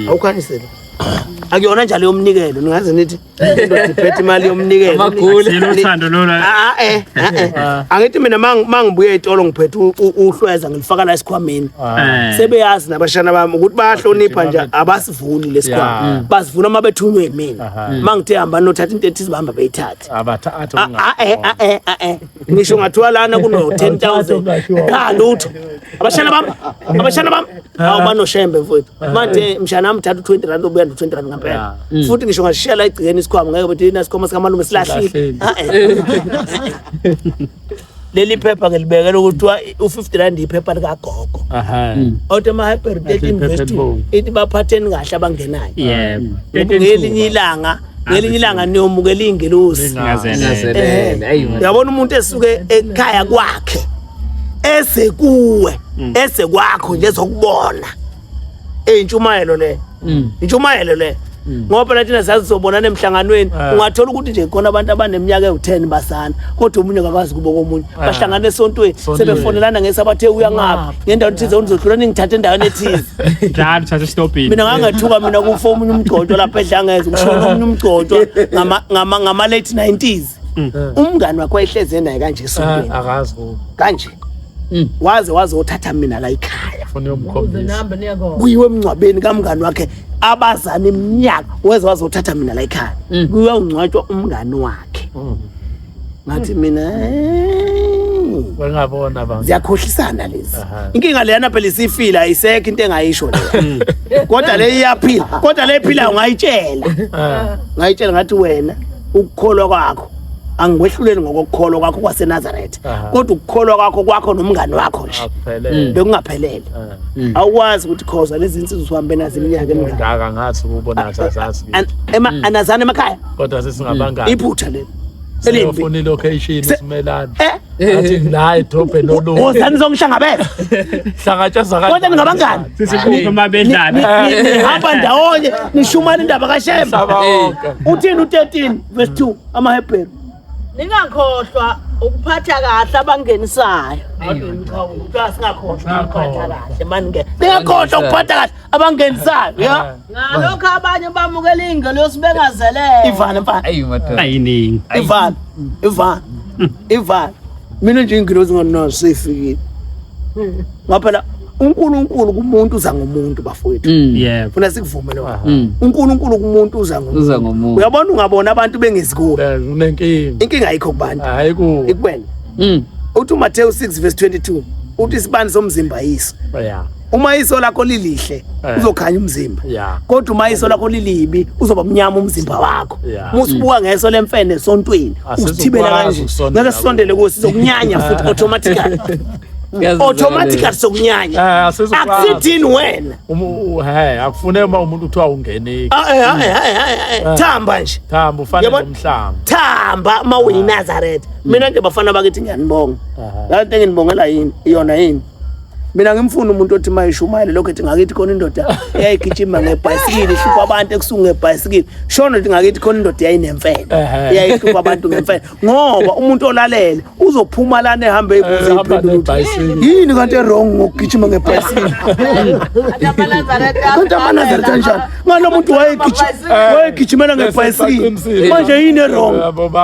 awukhanisele akuyona njalo yomnikelo ningaze nithi indoda iphethe imali yomnikelo ah, ah, eh, ah, eh. angithi mina mangibuye ey'tolo ngiphethe uhlweza ngilifaka la esikhwameni eh. sebeyazi nabashana bami ukuthi bayahlonipha nje abasivuli lesikhwama mm. basivula uma bethunywe yimina uma ngithe hamba nothatha into ethize bahamba beyithathe ngisho ngathiwa lana kuno-ten thousand kanti utho abashana bami abashana bami awu banoshembe mfowethu manje mshana amthatha u-20 rand obuya no-20 rand ngampela Mm. futhi ngisho ngasishiya la egcikeni isikhwama ngeke bethi yina sikhwama sikamalume silahlile Ah, eh. leli phepha ngilibekele ukuthi kuthiwa u-50 rand iphepha likagogo Aha. othi ama-hyperbirthday Athi invest iphepha ithi baphatheni kahle abangenayo yebo ngelinye ilanga ngelinye ilanga niyomukela iy'ngelosi uyabona umuntu esuke ekhaya kwakhe ese kuwe mm. ese kwakho nje zokubona eyintshumayelo le mm. intshumayelo le mm. ngoba phela thina sazizobonana emhlanganweni eh. ungathola ukuthi nje khona abantu abaneminyaka ewu-10 basana kodwa omunye ngakwazi kubo komunye eh. bahlangana esontweni sebefonelana ngesabathe uya ngaphi ngendawo ethize unizodlula ningithathe endaweni ethize Njalo thatha stopini. mina ngangathuka mina kufa omunye umgcotshwa lapha edlangeza kushona omunye umgcotshwa ngama- ngama- ngama-late 90s umngani wakho wayehlezi enaye kanje esontweni Mm. Ah, akazi bo kanje Mm. waze wazothatha mina la ikhaya funa yomkhombisa kuyiwe emngcwabeni kamngani wakhe abazana iminyaka weze wazothatha mina la ikhaya Mm. kuyongcwatshwa umngani wakhe ngathi mina wengabona ba ziyakhohlisana lezi inkinga leyana phela isifila ayisekho into engayisho le hmm. kodwa le iyaphila kodwa le iphila ungayitshela ah. ngayitshela ngathi wena ukukholwa kwakho angikwehluleli ngokukholwa kwakho kwaseNazaretha kodwa ukukholwa kwakho kwakho nomngani wakho nje hmm. bekungaphelele ah. hmm. awukwazi ukuthi khoza lezi insizwa uhambe nazo iminyaka emingaka ngathi ukubona azazazi ema anazana emakhaya kodwa sesingabangani iphutha leli Elimbi. Siyofuna ilocation Se- simelane. Eh? Athi ngila idrop elolu. Wozani zongihlangabeza. Hlangatshazwa kanjani? Kodwa ningabangani. Sisikhuphe uma bedlala. Ni- ni- Nihamba ndawonye nishumana indaba kaShembe. Mhlaba wonke. Uthini u13 verse 2 amaHebheru. ningakhohlwa ukuphatha kahle abangenisayo Ngakhohlwa ukuphatha kahle. Ningakhohlwa ukuphatha kahle. abangenisayo ya ah. ngalokho abanye bamukela ingelosi bengazelele ivana mfana ayi madoda ayiningi ivana ivana ivana mina nje ingelosi ngona sefikile ngaphela uNkulunkulu kumuntu uza ngomuntu bafowethu mm. yebo funa sikuvumele wona mm. uNkulunkulu kumuntu uza ngomuntu uza ngomuntu uyabona ungabona abantu bengezikuwe unenkinga inkinga ayikho kubantu hayi ku ikwena mm. uthi uMateyu 6 verse 22 uthi isibani somzimba yiso yeah uma iso lakho lilihle Eh. uzokhanya umzimba Yeah. kodwa uma iso lakho lilibi uzoba mnyama umzimba wakho Yeah. uma usibuka ngeso lemfene esontweni Asizokwazi usithibela kanje ukusondela ngeke sisondele kuwo sizokunyanya futhi automatically automatically sokunyanya Eh, asizokwazi. akusithini wena Umu- u- he akufune uma umuntu kuthiwa ungene Ah, eh, ah, eh, ah, eh, ah, eh, thamba nje thamba ufane Yabona? nomhlanga thamba uma uyinazareth mina nje bafana bakithi ngiyanibonga Aha. laa nto enginibongela yini iyona yini mina ngimfuna umuntu othi uma ishumayele lokho ethi ngakithi khona indoda eyayigijima ngebhayisikili ihlupha abantu ekusuku ngebhayisikili shona ethi ngakithi khona indoda eyayinemfene eyayihlupha abantu ngemfene ngoba umuntu olalele uzophuma lana ehambe eyibuze iphendula yini kanti erong ngokugijima ngebhayisikili kanti amanazaretha njani ngani lo muntu wayegijimela ngebhayisikili manje yini erong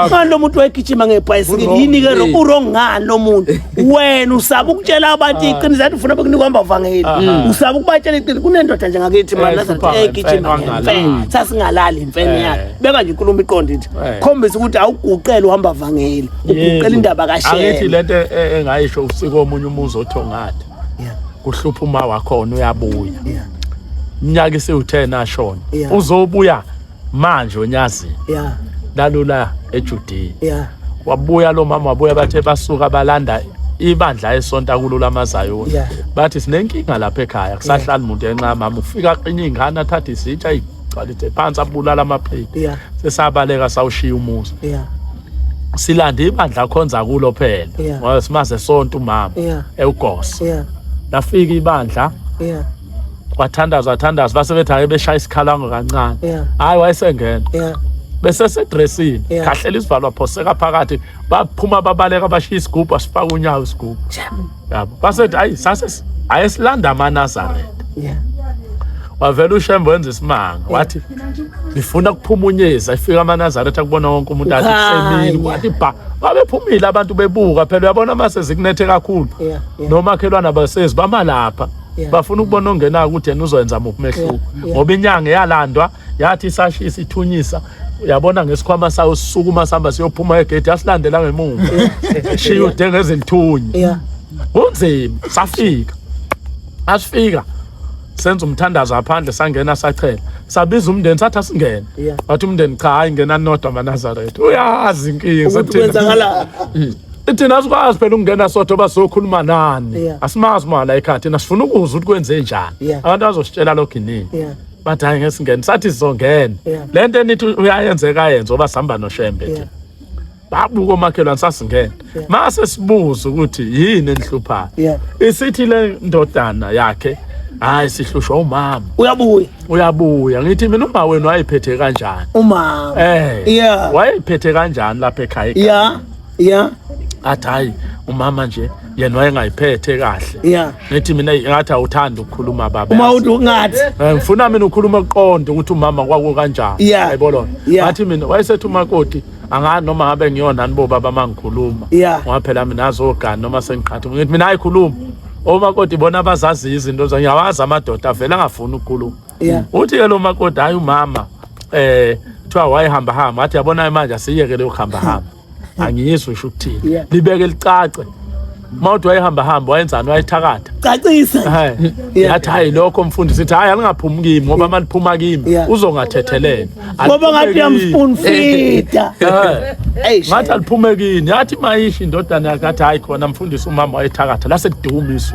ngani lo muntu wayegijima ngebhayisikili yini-ke rong urong ngani lo muntu wena usaba ukutshela abantu ah. iqiniso athi ufuna bekunika ambavangeli ah. mm. usaba ukubatshela iqiniso kunendoda nje ngakithi managijima ngemfene sasingalali imfene eh. yakhe beka nje inkulumo iqonde ithi eh. khombisa ukuthi awuguqele uhamba vangeli uguqela indaba kasheangithi le nto e-, engayisho usiko omunye umuzi othongatha kuhlupha uma wakhona uyabuya iminyaka isiwu-10 ashona uzobuya manje onyazini lalula ejudiya wabuya lo mama wabuya bathe basuka balanda ibandla esonta kulo lamazayo bathi sinenkinga lapha ekhaya kusahlala umuntu enxa mama ufika aqinye ingane athathe isitsha gcwalite phansi abulala amaphiko yeah. sesabaleka sawushiya umuzi yeah. silanda ibandla akhonza kulo phela yeah. ngoba simaze sonke umama yeah. ewugosa yeah. lafika ibandla yeah. kwathandaza wathandaza base bethi ake beshaya isikhalango kancane yeah. hayi wayesengena yeah. besesedressini yeah. khahlela isivalo waphoseka phakathi baphuma babaleka bashiya isigubhu asifaka unyawo isigubhu yabo basethi ayi sase ayesilanda amanazareth yeah wavela ushembe wenza isimanga wathi ngifuna kuphumunyeza ifika amanazaretha kubona wonke umuntu athi kusemini wathi bha babephumile abantu bebuka phela uyabona uma sezikunethe kakhulu nomakhelwane abasezi bama lapha bafuna ukubona ongenako ukuthi yena uzoyenza muphi umehluko ngoba inyanga eyalandwa yathi isashi isithunyisa uyabona ngesikhwama sayo sisukuma sihamba siyophuma egedi yasilandela ngemuva shiya ude ngezinthunya yeah kunzima safika asifika senza umthandazo aphandle sangena sachela sabiza umndeni sathi asingene Yeah. wathi umndeni cha hayi ngena nodwa manazaretha uyazi inkinga ukuthi sathina kwenzakala thina asikwazi phela ukungena sodwa uba sokhuluma nani Yeah. asimazi mala ekhaya thina sifuna ukuzwa ukuthi kwenze njani Yeah. abantu bazositshela lokhu inini yeah bathi hayi ngeke singene sathi sizongena Yeah. le nto enithi uyayenzeka ayenze oba sihamba noshembe nje Yeah. babuka omakhelwane sasingena Yeah. mase sibuza ukuthi yini enihluphayo Yeah. isithi le ndodana yakhe hayi sihlushwa umama uyabuya uyabuya ngithi mina uma wenu wayephethe kanjani umama eh Yeah. wayephethe kanjani lapha ekhaya ya yeah athi hayi umama nje yena wayengayiphethe kahle yeah ngithi mina ngathi awuthanda ukukhuluma baba uma uthi ungathi eh, ngifuna mina ukhuluma kuqonde ukuthi umama kwaku kanjani yeah. hayibo lona yeah. ngathi mina wayesethi umakoti angani noma ngabe ngiyona nibo baba mangikhuluma yeah. ngoba phela mina azogani noma sengiqhatha ngithi mina ayikhuluma omakoti bona abazaziyo izinto zangiyawazi amadoda avele angafuni ukukhuluma yeah. uthi ke lo makoti hayi umama eh kuthiwa wayehamba hamba athi yabona manje asiyeke leyo hamba hamba angiyizwe usho ukuthini yeah. libeke licace mawuthi wayehamba hamba wayenzani wayethakatha cacisa yathi hayi lokho mfundi sithi hayi alingaphumi kimi ngoba uma liphuma kimi uzongathetheleni ngoba ngathi uyamfuna fida ngathi aliphume kini yathi mayishi indodana yakathi hayi khona mfundisi umama wayethakatha lase kuduma isu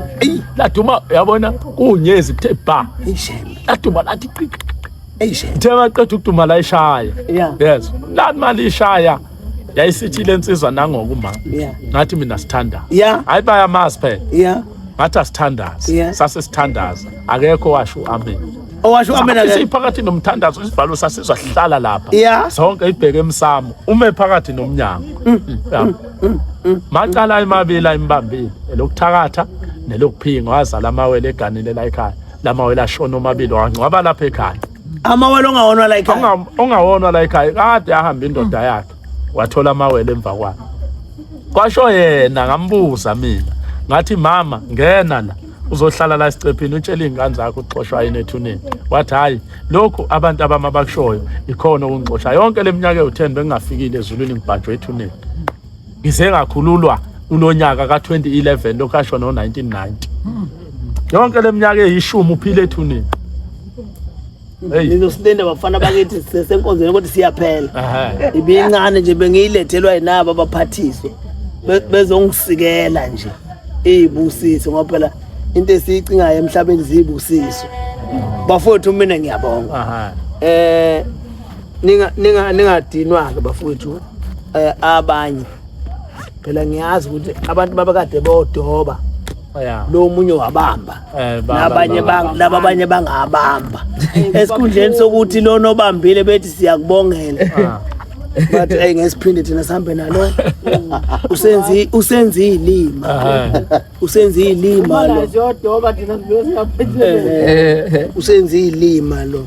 laduma yabona Unyezi kuthe ba. Ishembe. Laduma lathi qiqi. Ishembe. Uthe maqeda ukuduma la ishaya. Yeah. Yes. La mali ishaya. Yayisithi le nsizwa nangoku ma. Yeah. Ngathi mina sithanda. Yeah. Hayi bayamazi phela. Yeah. Ngathi asithandazi. Yeah. Sase sithandaza. Akekho washo amen. Owasho amen Sathi akekho. siphakathi nomthandazo isivalo sasizwa sihlala lapha. Yeah. Sonke ibheke emsamo. Ume phakathi nomnyango. Yeah. macala emabili ayimbambile elokuthakatha nelokuphinga wazala amawele eganile la ekhaya lamawele ashona omabili wangcwaba lapha ekhaya amawele ongawonwa la ekhaya ongawonwa la ekhaya kade ahamba indoda mm. yakhe wathola amawele emva kwakhe kwasho yena ngambuza mina ngathi mama ngena la uzohlala la sicephini utshela iy'ngane zakho uxoshwa yini ethuneni wathi hhayi lokhu abantu abami abakushoyo ikhona okungixosha yonke le minyaka ewu-ten bengingafikile ezulwini ngibhanjwe ethuneni ngize ngakhululwa kulo nyaka ka-2011 lokhu asho no-1990 yonke le minyaka eyishumi uphile ethuneni nizosilenda bafana bakithi sisesenkonzweni kodwa siyaphela ibincane nje bengiyilethelwa yinabo abaphathiswa bezongisikela nje iyibusiso ngoba phela into esiyicingayo emhlabeni ziyibusiso bafowethu mina ngiyabonga eh ninga ninga ningadinwa ke bafowethu eh, abanye phela ngiyazi ukuthi abantu babekade bodoba lo munye wabamba Eh, baba, nabanye baba, bang- baba. laba abanye bangabamba esikhundleni sokuthi lona obambile bethi siyakubongela Ah. but eyi ngesiphinde thina sihambe nalo usenzi usenzi ilima Aha. usenzi ilima lo Ziyodoba thina siyosingaphethele. Eh, usenzi ilima lo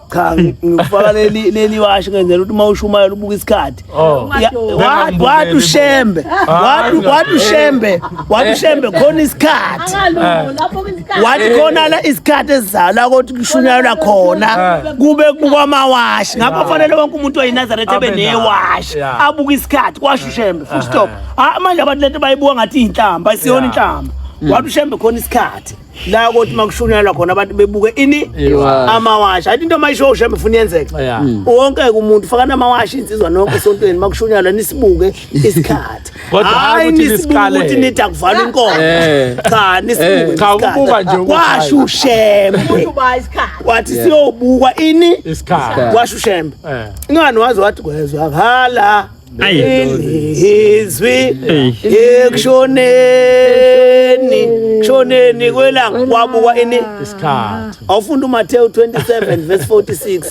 cha ngifaka leli leli washi ngenzela ukuthi uma ushumayela ubuka isikhathi Oh. Ya- wa- wathi ushembe wathi wathi ushembe wathi ushembe khona isikhathi Angalungu lapho kwisikhathi. wathi khona la isikhathi esizala ukuthi kushunyayelwa khona kube kubukwa amawashi ngakho kufanele wonke umuntu oyinazaretha abe Abe nayo, newashi yeah. abuke isikhathi kwasho ushembe full stop Ah, manje abantu lento bayibuka ngathi iy'nhlamba isiyona inhlamba wathi ushembe khona isikhathi la ukuthi makushunyalwa khona abantu bebuke ini Iwashi. amawashi athi into mayishoshe emfuna yenzeka Yeah. Mm. wonke ke umuntu faka namawashi insizwa nonke esontweni makushunyalwa nisibuke isikhathi Kodwa hayi hayi ukuthi nisibuke nisikale. ukuthi nithi akuvala inkomo Eh. cha nisibuke Eh. Cha, isikhathi. ukubuka nje ukuthi hayi. kwasho ushembe umuntu uba isikhathi wathi siyobukwa ini Isikhathi. kwasho ushembe Eh. ingani waze wathi kwezwa hala izwi ekushoneni kushoneni kwelanga kwabuka ini isikhathi awufunda uMathewu 27 verse 46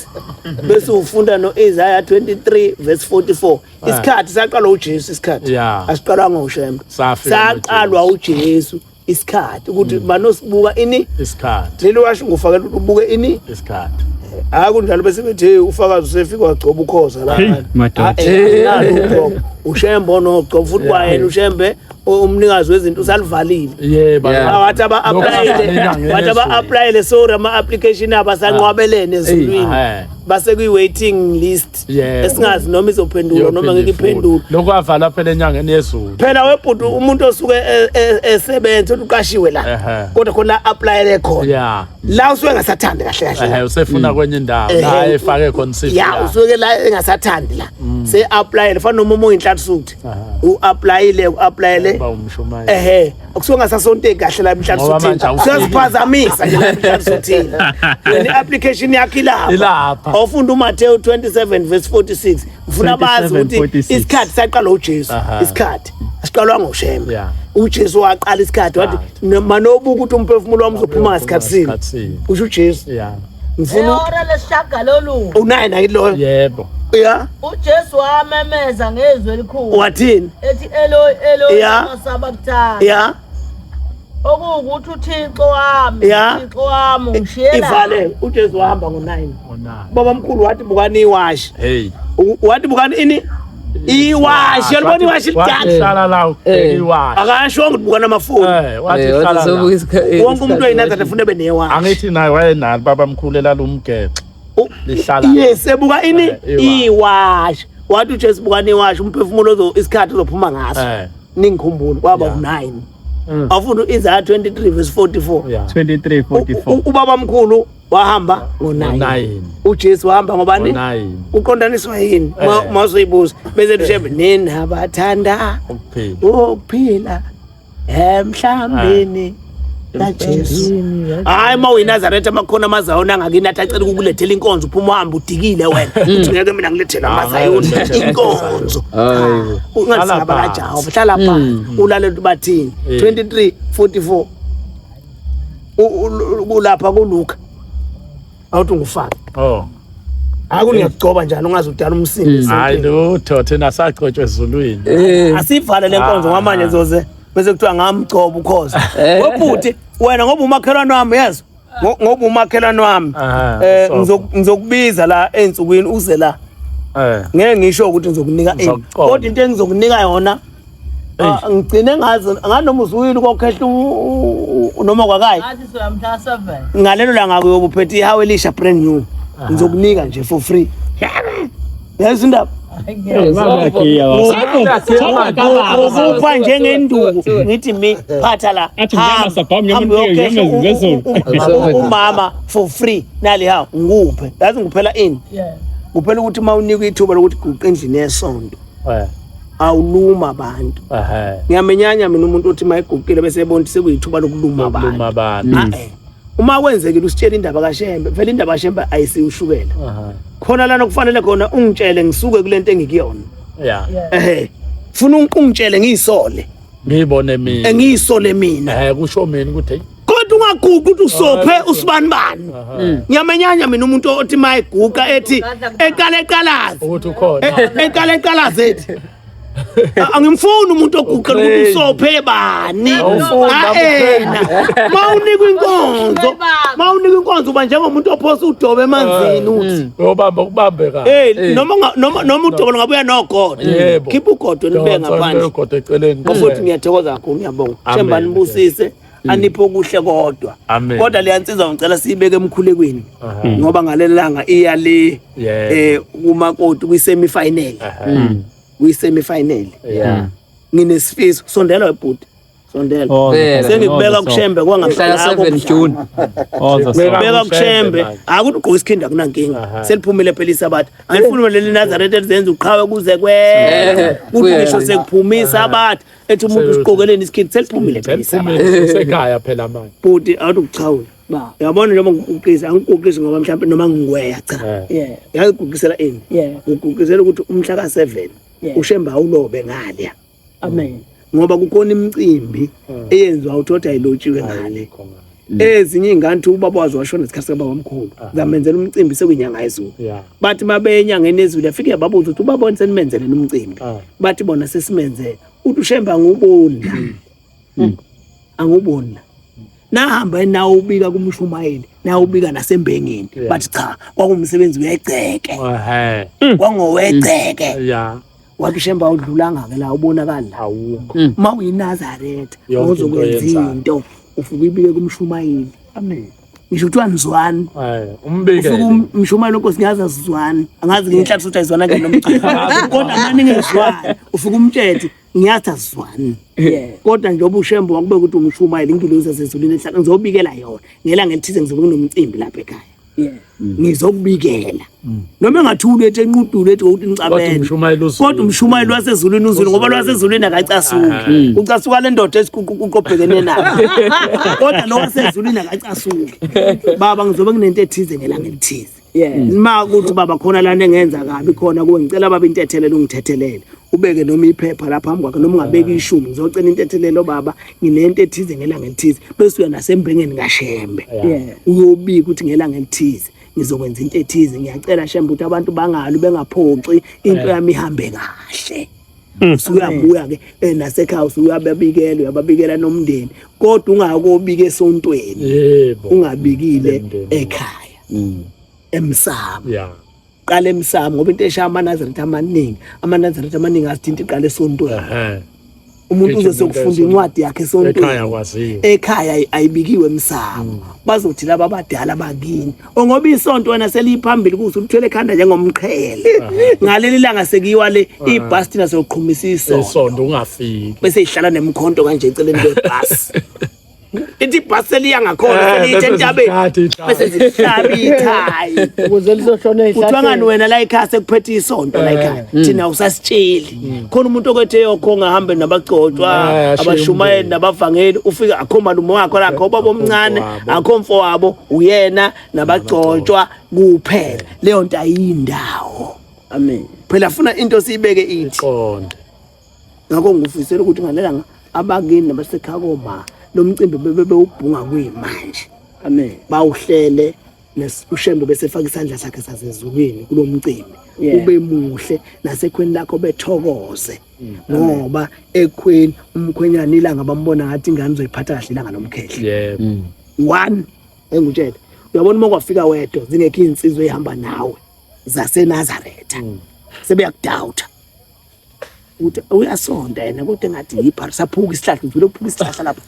bese ufunda noIsaiah 23 verse 44 ah. isikhathi saqalwa uJesu isikhathi asiqalwanga uShembe saqalwa uJesu isikhathi ukuthi banosibuka mm. ini isikhathi leli washo ngufakela ukuthi ubuke ini isikhathi hayi kunjalo bese bethi hey ufakazi usefika wagcoba ukhoza la ah, eh, eh, ushembe onogcoba futhi kwayena ushembe umnikazi wezinto usalivalile yebo wathi aba applyele wathi aba applyele sorry ama application abasanqwabelene ezulwini base kwi waiting list podcast Yebo. esingazi noma izophendulwa noma ngeke iphendulwe lokho avala phela enyangeni yezulu phela webhuti umuntu osuke e- e- esebenza uthi uqashiwe la Ehhe. kodwa khona aplayele khona ya la usuke engasathandi kahle kahle ehe la. usefuna kwenye indawo Ehhe. la efake khona isifu ya yakhe. usuke la engasathandi la se aplayele fana noma uma uyinhlatsuthi Aha. u aplayile u aplayele Uba umshumayeli. ehe kusuke ngasasonteki kahle la emhlanje Ngoba manje sothini awufiki. siyaziphazamisa nje la emhlanje sothini le application yakhe Ilapha. ilapha awufunda uMateyu 27 verse 46 ngifuna bazi 27, ukuthi 46. isikhathi saqala uJesu Aha. isikhathi asiqalwa ngoshembe Yeah. uJesu waqala isikhathi wathi manobuka ukuthi umphefumulo wami uzophuma ngasikhathi sini Ngasikhathi sini. usho uJesu Yeah. ngifuna ehora lesishagalolunye unaye naye loyo yebo ya ujesu wamemeza ngezwi elikhulu wathini ethi eloi eloi Ya. masabakthana ya okuwukuthi uthixo wami Ya. uthixo wami ungishiyela ivale ujesu wahamba ngo-nine onani baba mkhulu wathi bukani iwashi hey U- wathi bukani ini iwashi yalibona iwashi lidala eh. akasho ukuthi bukana amafoni eh, eh, wonke umuntu oyinatha ndifuna ebe newashi angithi naye wayenalo baba mkhulu elalumgexo lihlala yes ebuka ini iwashi wathi ujesu bukana iwashi umphefumulo isikhathi uzophuma ngaso ningikhumbula kwaba u-9 mm. awufunda u-isaya 23 verse 44 ubaba mkhulu wahamba ngo-9 ujesu wahamba ngobani uqondaniswa yini eh. masoyibuza bese lushebe eh. nina bathanda ukuphila emhlambeni eh. kajesu hayi uma uyinazaretha amakhona amazayona angakini athi acela ukukulethela inkonzo uphuma uhambe udikile wena hmm. uthi ngeke mina ngilethele ah, amazayona inkonzo ungasingabalajahova hlala phansi hmm. ulalele ukuthi bathini 23 44 kulapha kuluka awuthi ungufake oh haku niyakugcoba njani ungaze udala umsindo hayi lutho thina sagcotshwe ezulwini eh. asivale lenkonzo ngamanje ah. zoze bese kuthiwa ngamgcoba ukhoza eh. webhuti wena ngoba umakhelwane wami yezo ngoba umakhelwane wami ah, eh ngizokubiza la ensukwini uze la eh. ngeke ngisho ukuthi ngizokunika kodwa into engizokunika yona Ah, ngigcine ngazi nganoma uzuyile kokhehla noma kwakayi ngalelo langa uyobuphethe ihawu elisha brand new ah. ngizokunika nje for free yazi indaba ukupha njengenduku ngithi mi phatha la umama for free nali hawu ngikuphe yazi ngiphela ini kuphela ukuthi uma unikwa ithuba lokuthi guqa endlini yesonto eh awuluma abantu ehe ngiyamenyanya mina umuntu othi mayigugile bese ebona ukuthi sekuyithuba lokuluma abantu Lokuluma abantu. Ah, eh. uma kwenzekile usitshela indaba kaShembe phela indaba kaShembe ayisiwushukela Aha. khona lana kufanele khona ungitshele ngisuke kulento engikuyona ya ehe funa ungitshele ngiyisole ngiyibone mina engiyisole mina eh kusho mina ukuthi kodwa ungaguqi ukuthi usophe usibani bani hmm. ngiyamenyanya mina umuntu othi mayiguqa ethi eqala eqalaze ukuthi ukhona e-, e-, eqala eqalaze ethi angimfuni umuntu oguqela ukuthi usophe bani aena mawunikwa inkonzo mawunikwa inkonzo uba njengomuntu ophosa udobe emanzini uthi hmm. Uyobamba kubambe ka. Hey, noma nga- noma noma udokolo ngabuya nogodo. Yebo. Khipha ugodo nibe Ngicela ngaphandle. ugodo eceleni. Mfowethu ngiyathokoza kakhulu ngiyabonga. Amen. Themba nibusise aniphe okuhle kodwa. Amen. Kodwa leya nsizwa ngicela siyibeke emkhulekweni Aha. ngoba ngalelanga iya le Yeah. eh kuma koti kwi semi final. Aha. Kwi semi final. Yeah. Nginesifiso sondela webhuti. Sondela. Oh, Phela. the- Sengikubeka oh, the kushembe Mhla kwangempela. ka 7 June. song. Oh, the Ngibeka song. Beka kushembe. manje. Akuthi ugqoka isikhindi akunankinga. Aha. Seliphumile phela isabatha. Angifuni wena leli Nazareth elizenza uqhawe kuze Eh, kwena. Kuthi kuya. ngisho sekuphumisa sabatha ethi umuntu usiqokeleni isikhindi seliphumile phela isabatha. Seliphumile sekhaya phela manje. Bhuti awuthi ukuchawula. Ba. Uyabona noma ngikuqisa angikuqisi ngoba mhlawumbe noma ngingweya cha. Eh. Yeah. Ngikuqisela ini? Yeah. Ngikuqisela ukuthi umhla ka 7 Yeah. ushembe awulobe ngalya. amen ngoba kukhona imicimbi hmm. eyenziwa uthoda ilotshiwe ngale Mm. ezinye ingane uthi ubaba wazo washona isikhathi kababa omkhulu ah. zamenzela umcimbi sekuyinyanga yezulu bathi mabeyenyangeni ezulu afike yababuza ukuthi ubaba wani senimenzeleni umcimbi ah. bathi bona sesimenzele uthi ushembe anguboni la mm. mm. anguboni la nahamba nawo ubika kumshumayeli nawo ubika nasembengeni bathi cha kwakumsebenzi wegceke kwangowegceke wathi ushemba awudlulanga ke la ubonakala la awukho Mm. uma uyinazaretha Yonke into ozokwenza oyenzayo. into ufike ibike kumshumayeli amen ngisho kuthiwa nizwani eh ufike umbikele um- umshumayeli wenkosi ngiyazi azizwani angazi ngenhlathi ukuthi ayizwana kanjani nomcela kodwa mani ngezwani ufike umthethe ngiyathi azizwani kodwa njengoba ushembo wakube ukuthi umshumayeli ingilozi yasezulwini ehlaka ngizobikela yona ngelanga elithize ngizobe kunomcimbi lapha ekhaya Mm. ngizokubikela mm. noma engathi ulethe enqudulu ethi ukuthi nicabele kodwa umshumayeli wasezulwini uzulu ngoba lwasezulwini akacasuki ah. mm. ucasuka le ndoda esiqobhekene nayo kodwa lo wasezulwini akacasuki baba ngizobe nginento ethize ngelanga elithize ma ukuthi baba khona lana engenza kabi khona kuwe ngicela baba intethelelo ungithethelele ubeke noma iphepha lapha phambi kwakhe noma ungabeki ishumi ngizocela intethelelo baba nginento ethize ngelanga elithize bese uya nasembengeni kaShembe uyobika ukuthi ngelanga elithize ngizokwenza into ethize ngiyacela Shembe ukuthi abantu bangalu bengaphoxi into yami ihambe kahle Mm. usuyabuya ke eh, nasekhaya usuyababikela uyababikela nomndeni kodwa ungakobika esontweni ungabikile ekhaya mm. emsamo qala emsamo ngoba into eshaya amanazaretha amaningi amanazaretha amaningi azithinta iqala esontweni umuntu uze sokufunda incwadi yakhe esontweni ekhaya ayibikiwe emsamo mm. bazothi laba abadala bakini ongoba isonto wena seliyiphambili kuze ulithwele ekhanda njengomqhele ngaleli langa sekuyiwa le ibhasti nasoqhumisa isonto isonto ungafiki bese ihlala nemkhonto kanje eceleni kwebhasi ithi ibhasi seliya ngakhona eh, seliyithe entabeni bese zihlaba ithayi ukuze lizohlona ihlathi kuthiwa ngani wena la ekhaya sekuphethe isonto la ekhaya eh. hmm. thina usasitsheli hmm. khona umuntu okwethe yokho ngahambe nabagcotshwa eh, abashumayeli nabavangeli ufika akho malume wakho lakho ubaba omncane akho mfo wabo uyena nabagcotshwa kuphela leyo nto ayindawo amen phela funa into siyibeke ithi qonde ngakho ngifisela ukuthi ngalelanga abakini nabasekhaya koma lo mcimbi bebe bewubhunga kuyimanje amen bawuhlele ushembe bese faka isandla sakhe sasezulwini kulo mcimbi ube muhle nasekhweni lakho bethokoze mm, ngoba ekhweni umkhwenyana ilanga bambona ngathi ingane uzoyiphatha kahle ilanga lomkhehle mm. one engutshele uyabona uma kwafika wedwa zingekho izinsizwa ezihamba nawe zaseNazaretha mm. sebeyakudawutha uthi uyasonda yena kodwa engathi yibhari saphuka isihlahla ngivele ukuphuka isihlahla lapho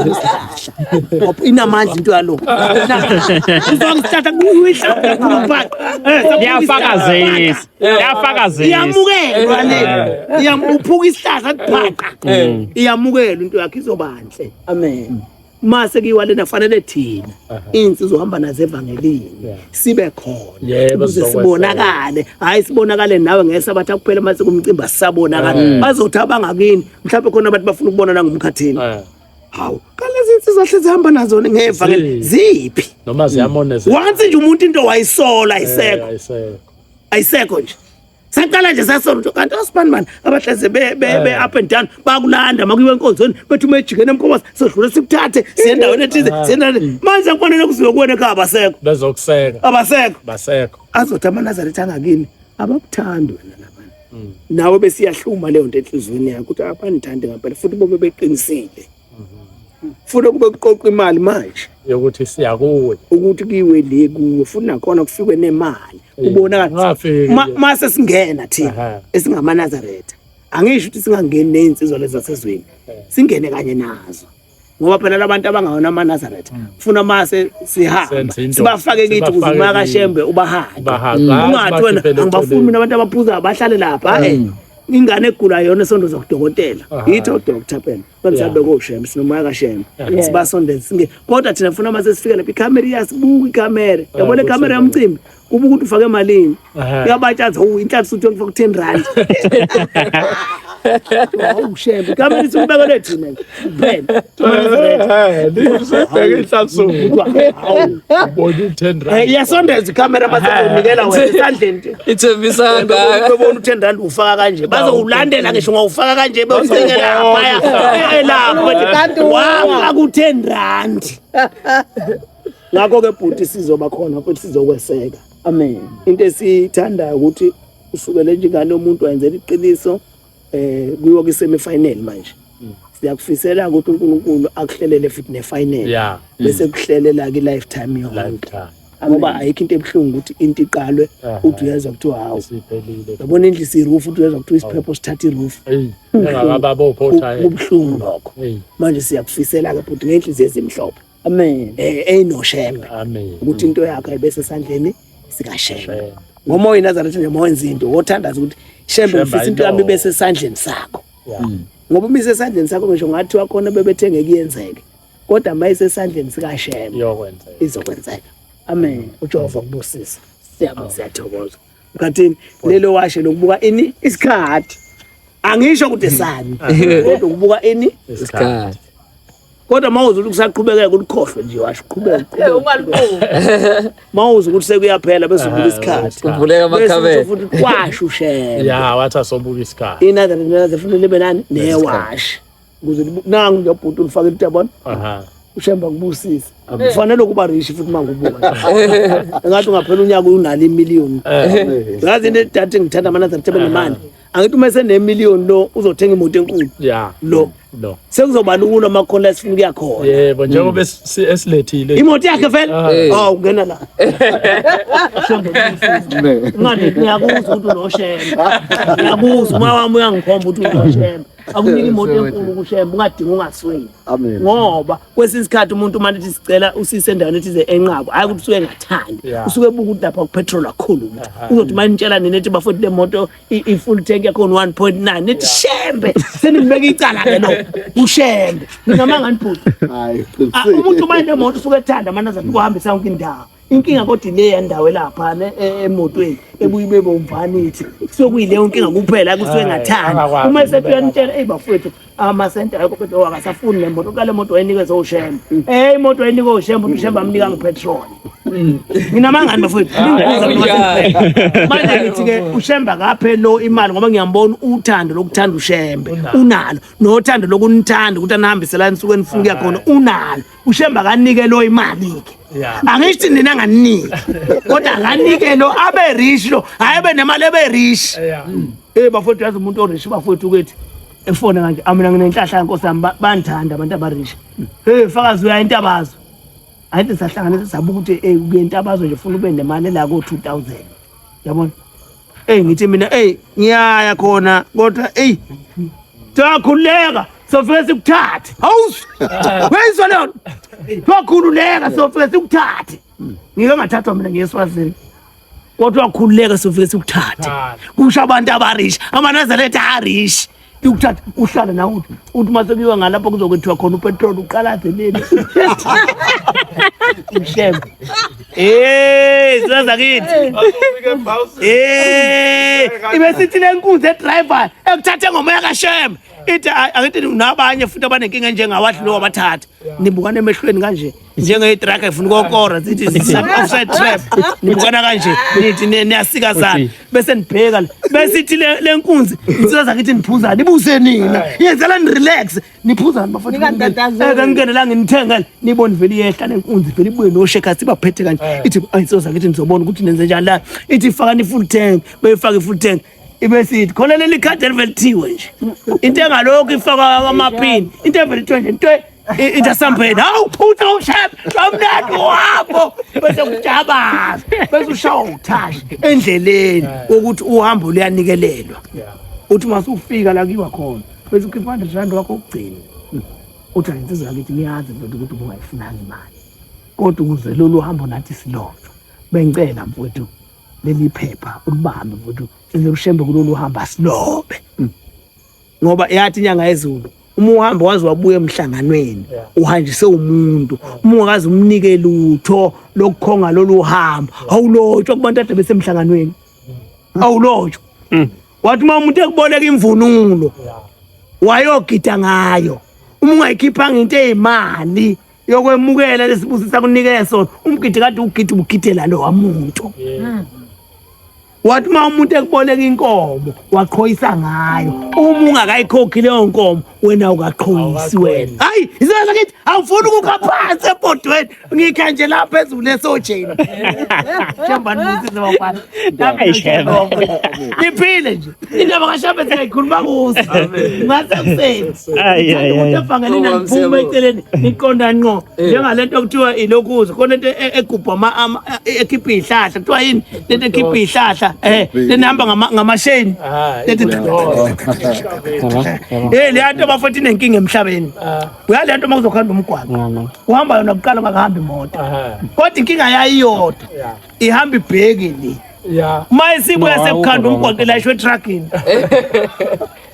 isihlahla inamandla into yalo uzamsihlahla kuyafakazisa yafakazisa iyamukelwa le iyamuphuka isihlahla kubhaqa iyamukelwa into yakhe izobanhle amen uma sekuyiwa lena kufanele thina iy'nsizwa uhamba nazo evangelini sibe khona ukuze sibonakale hhayi sibonakale nawe ngeke sabathi akuphela uma sekumcimbi asisabonakali bazothi abangakini mhlawumbe khona abantu bafuna ukubona nangumkhathini hawu kalezi nsizwa hle zihamba nazo ngevangeli ziphi noma ziyamoneza once nje umuntu into wayisola ayisekho ayisekho nje saqala nje sasonto kanti osibani bani abahleze be be be eh. up and down bakulanda makuyiwe enkonzweni bethi uma ejikene emkhomosa sodlula sikuthathe siyendaweni ethize eh. siyendaweni manje kufanele kuziwe kuwena ekhaya abasekho bezokuseka abasekho basekho azothi amanazaretha angakini abakuthandi wena labana mm. nawe besiyahluma leyo nto enhliziyweni yakho ukuthi abanithandi ngampela futhi bobe beqinisile funa kube kuqoqa imali manje yokuthi siya kuwe ukuthi kiwe le kuwe futhi nakhona kufikwe nemali eh, ubona mase singena thina esingamanazaretha angisho ukuthi singangeni nezinsizwa lezi zasezweni eh. singene kanye nazo ngoba phela labantu abangawona amanazaretha hmm. funa mase sihamba sibafake kithi ukuze umakashembe ubahaye ungathi wena angibafuni mina abantu abaphuzayo bahlale lapha hmm. eh ingane egula yona sonto zokudokotela yithi odokotela phela bamsabe koshembe sinomoya kashembe sibasondele singe kodwa thina funa uma sesifika lapha ikhamera iyasibuka ikhamera ah, yabona ikhamera yomcimbi kuba ukuthi ufake emalini uyabatshaza u inhlanhla uthi ngifaka u10 rand awushembe ikhamera isibekele thina phela yasondeza ikhamera masenikela wena esandleni ithembisa ngakubona u-ten rand ufaka kanje bazowulandela ngisho ngawufaka kanje bewusekela aphaya elapho wafaka u-ten rand ngakho-ke bhuti sizoba khona futhi sizokweseka amen into esiyithandayo ukuthi usukele njengani umuntu wayenzela iqiniso eh kuyiwa kwi semi final manje mm. siyakufisela ukuthi uNkulunkulu akuhlelele futhi ne final yeah. Mm. bese kuhlelela ki lifetime yonke ngoba ayikho into ebuhlungu ukuthi into iqalwe uthi uyezwa kuthiwa hawu yabona endlu isirufu uthi uyezwa kuthiwa isiphepho sithatha irufu kubuhlungu lokho manje siyakufisela-ke bhuti ngey'nhliziyo ezimhlophe amen eyinoshembe eh, eh, amen ukuthi into yakho ayibese sandleni sikashembe ngoba oyinazaretha nje mawenza into wothandaza ukuthi shembe ngifisa into yami ibe sesandleni sakho mm. ngoba uma isesandleni sakho ngisho ngathi wakhona bebethenge kuyenzeke kodwa uma isesandleni sikashembe izokwenzeka amen ujehova kubusisa siyabonga siyathokoza Ukhathini lelo washe lokubuka ini isikhathi. Angisho ukuthi sani kodwa ukubuka ini isikhathi. Kodwa mawuze ukuthi kusaqhubekeka ulikhohlwe nje washo qhubeka. Eh ungalibuki. Mawuze ukuthi sekuyaphela bese ubuka isikhathi. Kuvuleka amakhabethe. Futhi kwasho ushela. Yeah wathi asobuka isikhathi. Inatha ngiyaze futhi libe nani newashi. ukuze nangu ngiyabhuti ulifakela utyabona ushemba kubusise kufanele ukuba rishi futhi uma ngubuka engathi ungaphela unyaka unalo imiliyoni ngazi into edati ngithanda amanatha ngithebe nemali angithi uma esenemiliyoni lo uzothenga imoto enkulu lo no sekuzoba lula uma khona esifuna ukuya khona yebo njengoba esilethile imoto yakhe vele hawu ah. ungena la ngani ngiyakuzwa ukuthi unoshemba ngiyakuzwa uma wami uyangikhomba ukuthi unoshemba akunika imoto enkulu kushembe ungadinga ungasweli ngoba kwesinye isikhathi umuntu uma lithi sicela usise endaweni ethize enqabo hhayi ukuthi usuke engathandi usuke ebuka ukuthi lapha kupetrol kakhulu ukuthi uzothi uma nitshela nina ethi bafoti le moto i-full tank yakhona one point nine nithi shembe senibeka icala-ke lo ushembe ningamanga nibhuti umuntu uma nemoto usuke ethanda amanazati ukuhambisa yonke indawo inkinga kodwa ile yandawo elaphana e, emotweni ebuye ibe bomvani ithi sokuyileyo nkinga kuphela kusuke ngathanda uma esetuyantshela eyi bafowethu amasente ayikho kodwa oh, akasafuni le moto kale moto wayinikeza ushemba mm. eyi imoto wayinika ushemba uthi ushemba amnika ngipetrol mm. mina mangani bafowethu manje ngithi-ke ushemba kaphe lo imali ngoba ngiyambona uthando lokuthanda ushembe unalo nothando lokunithanda ukuthi anihambiselani nisuke enifuna ukuya khona unalo ushemba kanike lo imali ke angisho nina nganike kodwa nganike lo abe rich lo hayi be nemali ebe rich eh bafowethu yazi umuntu o rich bafowethu ukuthi efona kanje amina nginenhlahla nkosi yami bandithanda abantu abarish hey fakazi uya intabazo ayithi sahlanganisa sabuka ukuthi eh uye intabazo nje ufuna ube nemali la ko 2000 yabona Ey ngithi mina ey ngiyaya khona kodwa ey Siyakhululeka sofike sikuthathe. Hawu. Wenzwa leyo. Siyakhululeka sofike sikuthathe. Ngike ngathathwa mina ngiyeswazini. Kodwa khululeka sofike sikuthathe. Kusho abantu abarish, amanazareth arish. ukuthatha uhlale nawe uthi uthi uma sekuyiwa ngalapho kuzokwethiwa khona upetroli uqalaze leli uhlebe Eh, sizaza kithi. Eh, ibe sithi lenkunzi edriver ekuthathe ngomoya kaShem. Ithi angithi nabanye futhi abanenkinga njengawathi lo wabathatha. Nibukane emehlweni kanje. njengeyi-truck efuna ukokora zithi offside trap nibukana kanje nithi niyasikazana bese nibheka la bese ithi le nkunzi insika zakithi niphuzani ibuse nina yenzelani relax niphuzani bafakangingenela eh, nginithengele nibone vele iyehla nenkunzi vele ibuye noshekasi ibaphethe kanje eh. ithi insika zakithi nizobona ukuthi nenze njani la ithi fakani i-full tank beyifake i-full tank ibe sithi khona leli khadi elivelithiwe nje into engalokhu ifakwa amaphini into evelithiwe nje into Into esambeni awuphutha ushaya kamnandi uhambo bese kujabaza bese ushawa ukuthashi endleleni ukuthi uhambo luyanikelelwa uthi uma usufika la kuyiwa khona bese ukhipha 100 rand wakho ukugcina uthi angithi zakithi niyazi mfowethu ukuthi ubungayifunanga imali kodwa ukuze lolu hambo nathi silonjwa bengicela mfowethu leli phepha ulibambe mfowethu size kushembe kulolu hambo asilobe ngoba yathi inyanga yezulu uma uhamba waze wabuya emhlanganweni uhanjise umuntu uma ungakaze umnike lutho lokukhonga lolu hambo awulotshwa kubantu ade besemhlanganweni awulotshwa mm. wathi uma umuntu ekuboleka imvunulo wayogida ngayo uma ungayikhiphanga into eyimali yokwemukela lesibusisa kunike sona umgidi kade ugidi ubugidela lo wamuntu yeah. mm. wathi uma umuntu ekuboleka inkomo waqhoyisa ngayo uma ungakayikhokhi leyo nkomo wena ukaqhoyisi wena hayi isizwe sakithi awufuni ukukha phansi ebhodweni ngikha nje la phezulu esojeni niphile nje indaba kashambe singayikhuluma kuso ngase kuseni efangele naniphume eceleni niqonda nqo eh. njengale nto kuthiwa ilokhuza khona into e-, egubha ekhipha iy'hlahla kuthiwa yini lento ekhipha iy'hlahla um lento ehamba ngamasheni e leya nto bafoti inenkinga emhlabeni uya le nto uma kuzokuhamba umgwaqo uhamba yona kuqala ungakuhambi imoto kodwa inkinga yayiyodwa ihamba ibheki le uma isibuya sekukhanda umgwaqo ilayishwe etruckini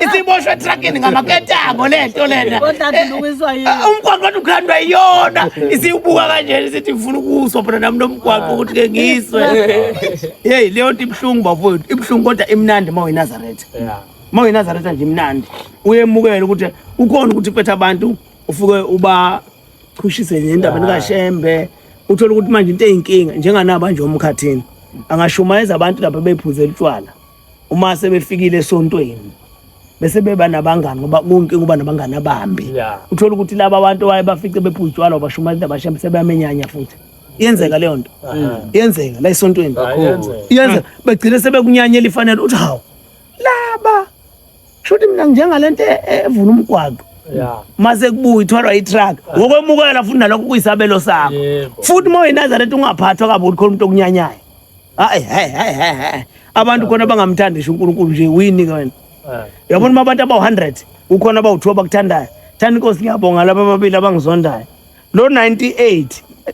isiboshwe etrakini ngamaketango le nto lena eh, umgwaqo wathi ukhandwa iyona isiwubuka kanjena isithi ngifuna ukuswa phona nami nomgwaqo ukuthi ke ngiswe yeyi leyo nto ibuhlungu bafowethu ibuhlungu kodwa imnandi uma uyinazaretha uma uyinazaretha nje imnandi uyemukele ukuthi ukhona ukuthi uphethe abantu ufuke ubachushise nje endabeni kashembe uthole ukuthi manje into eyinkinga njenganaba nje omkhathini angashumayeza abantu lapha bephuzela utshwala uma sebefikile esontweni bese beba nabangani ngoba konke kuba nabangani abambi yeah. uthola ukuthi laba abantu waye bafice bephuzitshwala ubashumayela abashamu sebeyamenyanya futhi iyenzeka leyo nto iyenzeka la esontweni iyenzeka begcine sebekunyanyela ifanele uthi hawu laba shuthi mina njengalento e- e- evula umgwaqo ya maze kubuya ithwalwa itruck ngokwemukela futhi nalokho kuyisabelo sakho Yebo. futhi uma uyinazareth ungaphathwa kabi ukuthi khona umuntu okunyanyayo hayi hayi hayi hayi hayi. abantu khona bangamthandi ngisho unkulunkulu nje wini ke wena Eh, yabona uma abantu abawu-100 kukhona abawu-two abakuthandayo thanda inkosi ngiyabonga laba ababili abangizondayo lo 98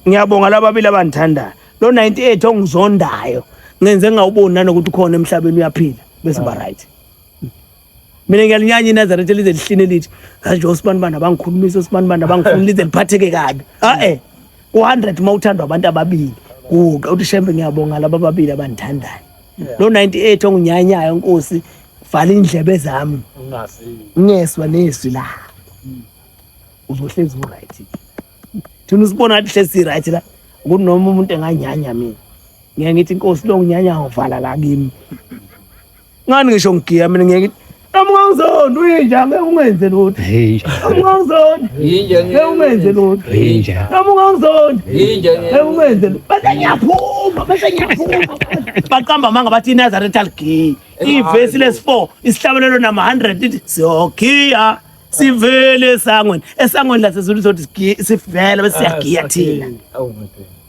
ngiyabonga laba ababili abangithandayo lo 98 ongizondayo ngenze ngingawuboni nanokuthi ukhona emhlabeni uyaphila bese uba right mina ngiyalinyanya inazaretha elize lihline lithi hayi nje osibanibani abangikhulumisa osibanibani abangifuni lize liphatheke kabi a-e ku-hundred uma uthandwa abantu ababili kuqa uthi shembe ngiyabonga laba ababili abandithandayo lo 98 onginyanyayo nkosi vala indlebe zami ngeswa nezwi la hmm. uzohlezi uright thina usibona athi hlezi right la kunoma umuntu enganyanya mina ngeke ngithi inkosi lo nginyanya ngovala la kimi ngani ngisho ngigiya mina ngeke noma ungangizoni uyinja ngeke ungenze lutho noma ungangizoni ngeke ungenze lutho noma ungangizoni ngeke ungenze lutho bese ngiyaphuma bese ngiyaphuma baqamba amanga bathi inazaretha ligiyi ivesi lesi-four isihlabelelo nama-hundred ithi siyogiya sivele esangweni esangweni lasezulu sothi sivele bese siyagiya thina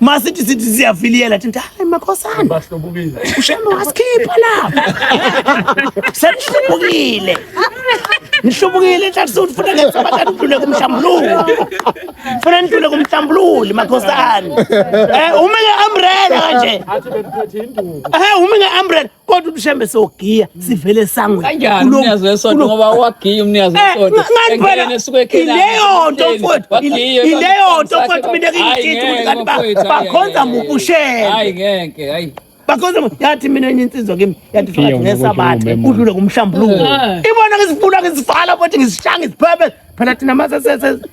masithi sithi siyafiliyela thi hayi makhosana bahlubukile ushema wasikhipha lapha senihlubukile nihlubukile enhlathi sokuthi funa ngesabathathu udlule kumhlambululi funa nidlule kumhlambululi makhosana um eh, ume nge-umbrella kanje eh, ume nge-umbrella kodwa umshembe sogiya sivele sangwe kanjani umnikazi wesonto ngoba wagiya umnikazi eh, wesonto ngani esuke ekhela ileyo nto mfowethu ileyo nto mfowethu mina ngiyithinta ukuthi kanti bakhonza mubushembe hayi ngeke hayi bakhonza yathi mina enye insizwa kimi yathi fakathi ngesabathe kudlule kumhlambuluko eh. ibona ngizifuna ngizivala futhi ngizishanga iziphebe phela thina mase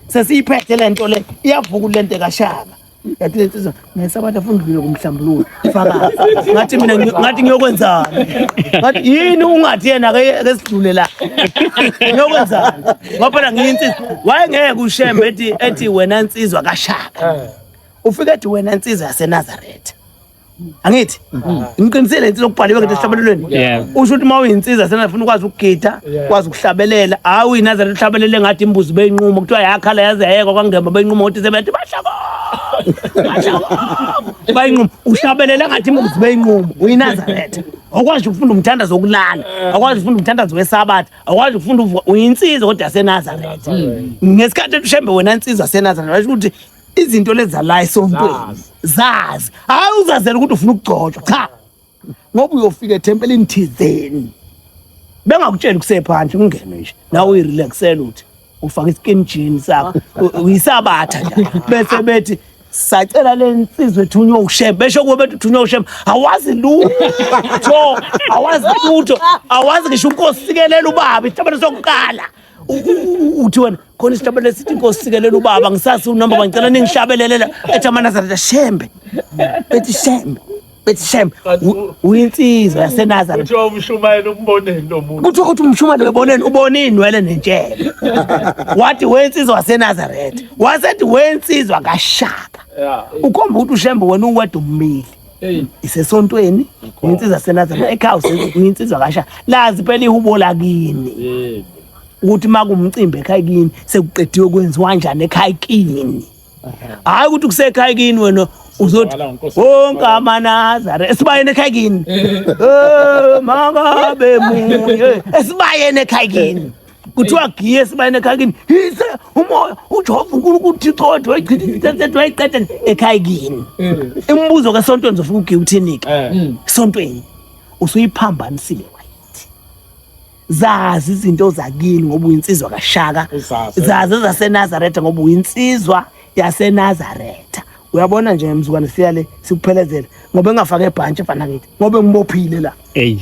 sesiyiphethe le nto le iyavuka le nto kashaka yathi le nsizwa ngesabantu afuna udlule kumhlambululo fakazi ngathi mina ngi- ngathi ngiyokwenzani ngathi yini ungathi yena ke ke sidlule la ngiyokwenzani ngoba phela ngiyinsizwa wayengeke ushembe ethi ethi wena nsizwa kashaka ufike ethi wena nsizwa yasenazaretha angithi mm-hmm. ngiqinisele insizwa okubhaliwe ngento esihlabelelweni usho ukuthi uma uyinsiza senafuna ukwazi ukugida ukwazi ukuhlabelela hawu inazareth uhlabelele ngathi imbuzi beyinqumo kuthiwa yakhala yaze yayekwa kwangema beyinqumo ukuthi sebethi bashako bayinqumo uhlabelele ngathi imbuzi beyinqumo uyinazareth awukwazi ukufunda umthandazo wokulala awukwazi ukufunda umthandazo wesabatha awukwazi ukufunda uyinsiza kodwa yasenazareth ngesikhathi elushembe wena nsizwa senazareth washo ukuthi izinto leza la esontweni zazi hayi uzazela ukuthi ufuna ukugcotshwa cha ngoba uyofika ethempelini thizeni bengakutsheli kusephandle ungene nje nawe uyirelaxela uthi ufaka iskin jean sakho uyisabatha nje bese bethi sacela le nsizwa ethunywa ushem besho kuwe bethi uthunywa ushem awazi lutho awazi lutho awazi ngisho unkosikelela ubaba isithabane sokuqala uthi wena khona isihlabelelo sithi inkosi sikelela ubaba ngisasi unumber one ngicela ningihlabelelela ethi amanazareta shembe bethi shembe bethi shembe uyinsizwa yasenazareta kuthiwa umshumayeli umboneni lo muntu kuthiwa uthi umshumayeli weboneni ubone inwele nentshele wathi wensizwa wasenazareta wasethi wensizwa kashaka ukhomba ukuthi ushembe wena uwedwa ummili isesontweni nginsizwa senazana ekhaya nginsizwa kasha lazi phela ihubo lakini ukuthi makumcimbi ekhaya kini sekuqediwe kwenziwa njani ekhaya kini hayi ukuthi kusekhaya kini wena uzothi wonke amanazare esibayeni ekhaya kini eh, makabe munye esibayeni ekhaya kini kuthiwa giye esibayeni ekhaya kini yise umoya ujehova unkulunkulu uthixo wethu wayichithethethe wayiqeda ekhaya kini imibuzo kasontweni uzofika ugiye uthini-ke sontweni usuyiphambanisile wayithi zazi izinto zakini ngoba uyinsizwa kashaka zazi ezasenazaretha ngoba uyinsizwa yasenazaretha uyabona nje mzukwane siya le sikuphelezela ngoba engafake ebhantshi efana kithi ngoba engibophile la eyi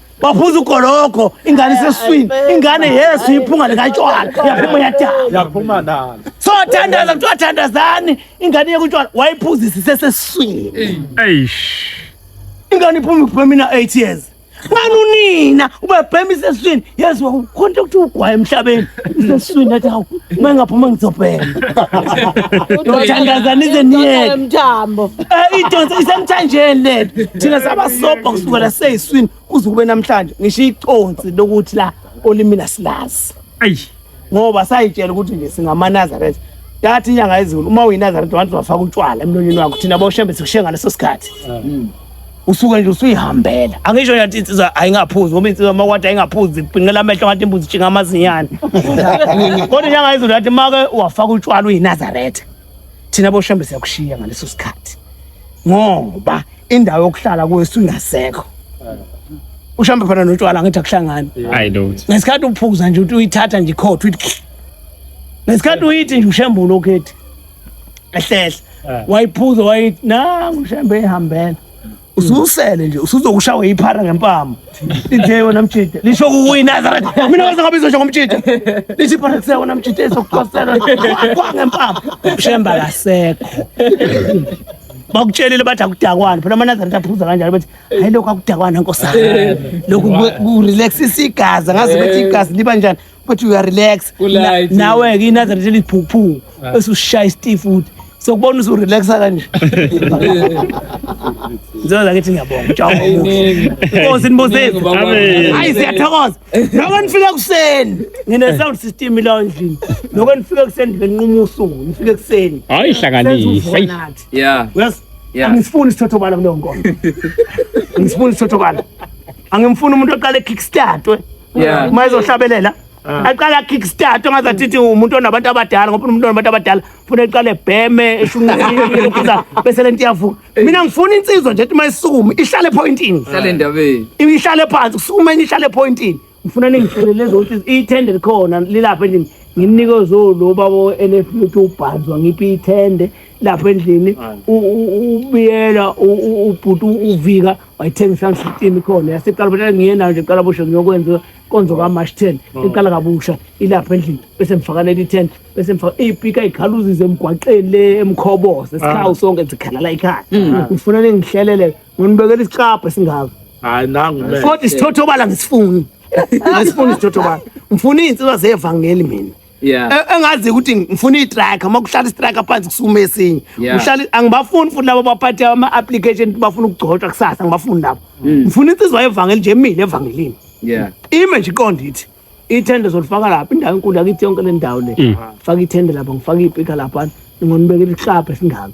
waphuza ugologo ingane iseswini ingane yesu iphunga likatshwala yaphuma yadalayaphuma nalo so thandaza kuthiwa thandazani ingane yekutshwala wayiphuzisa iseseswini ingane iphuma iphume mina eight years ngani unina ubebhema iseswini yesu wakukhonta ukuthi ugwaye emhlabeni Sesizwini athi hawu uma engaphuma ngizobhema. Ngithandaza nize niyele. Mthambo. Eh idonsa isemthanjeni le. Thina sabasobha kusukela seyiswini kuze kube namhlanje. Ngisho iconsi lokuthi la olimini asilazi. Ayi. Ngoba sayitshela ukuthi nje singamanazaretha. Yathi inyanga yezulu uma uyinazaretha wantu wafaka utshwala emlonyeni wakho thina boshembe sikushenga leso sikhathi. Mm. usuke nje usuyihambela angisho nje insizwa ayingaphuzi ngoba insizwa makwati ayingaphuzi ibhinqela amehlo ngathi imbuzi itshinga amazinyane kodwa njengayizulu yathi make wafaka utshwala uyinazaretha thina boshembe siyakushiya ngaleso sikhathi ngoba indawo yokuhlala kuyo sungasekho ushambe phana notshwala ngithi akuhlangani hayi lutho ngesikhathi uphuza nje uthi uyithatha nje ikhotha uyithi ngesikhathi uyithi nje ushembulo ukhethi ehlehla Eh. wayiphuza wayithi nangu ushembe ehambela ususele nje usuzokushawa yiphara ngempama lithe yona mjida lisho kukuyi nazareth mina kwaze ngabe izosho ngomjida lithi iphara kuse wona mjida ezokucosela kwa ngempama ushembe akasekho bakutshelile bathi akudakwana phela amanazareth aphuza kanjalo bathi hayi lokhu akudakwana nkosana lokhu ku- kurelaxisa igazi angazi ukuthi igazi liba njani but you are relax Kulike. Na- nawe ke inazareth eliphuphu esushaya isitifu futhi sokubona usurelaxa kanje nzela zakithi ngiyabonga utshaba Iningi. inkosi nibosezi Iningi, baba. Amen. hayi siyathokoza noko nifike ekuseni ngine-sound system ilawo endlini noko nifike ekuseni ndibenquma usuku nifike ekuseni Hayi senza hlanganisa. uvunathi Yeah. yes Yeah. angisifuni isithothobala kuleyo nkonzo angisifuni isithothobala angimfuni umuntu oqale kickstartwe Yeah. uma ezohlabelela aqala kickstart ongaze athithi umuntu onabantu abadala ngoba umuntu onabantu abadala funa eqale ebheme eshunqisa bese lento iyavuka mina ngifuna insizwa nje ethi uma isukume ihlale epointini Hlale endabeni. ihlale phansi kusukume enye ihlale epointini ngifuna ningihlelele zokuthi ithende likhona lilapha endlini nginike zolo baba NF uthi ubhanzwa ngiphi ithende lapha endlini u- u- ubiyela u- u- ubhuti uvika wayithenga isandla system ikhona yasiqala butshela ngiye nayo nje qala busho ngiyokwenza konzo ka March 10 mm. iqala kabusha ilapha endlini bese mfakanela i10 bese mfaka ipika ighaluzize emgwaqeni le emkhobose ah. sikhawu sonke zikhalala ikhaya mm. ngifuna ningihlelele nginibekela isicabha esingaka hayi nangu mina kodwa isithotho bala ngisifuni ngisifuni isithotho bala ngifuna izinsizwa zevangeli mina Yeah. E- engazi ukuthi ngifuna itracker uma kuhlala istracker phansi kusukuma esinye Yeah. uhlala angibafuni futhi labo baphathe ama-application ukuthi bafuna ukugcotshwa kusasa ngibafuni labo Mm. ngifuna insizwa yevangeli nje mina evangelini Yeah. ime nje iqonde ithi ithende zolifaka lapha indawo enkulu yakithi yonke le ndawo le Mm. faka ithende lapha ngifaka iyipika lapha ngonibekela isihlapha esingaka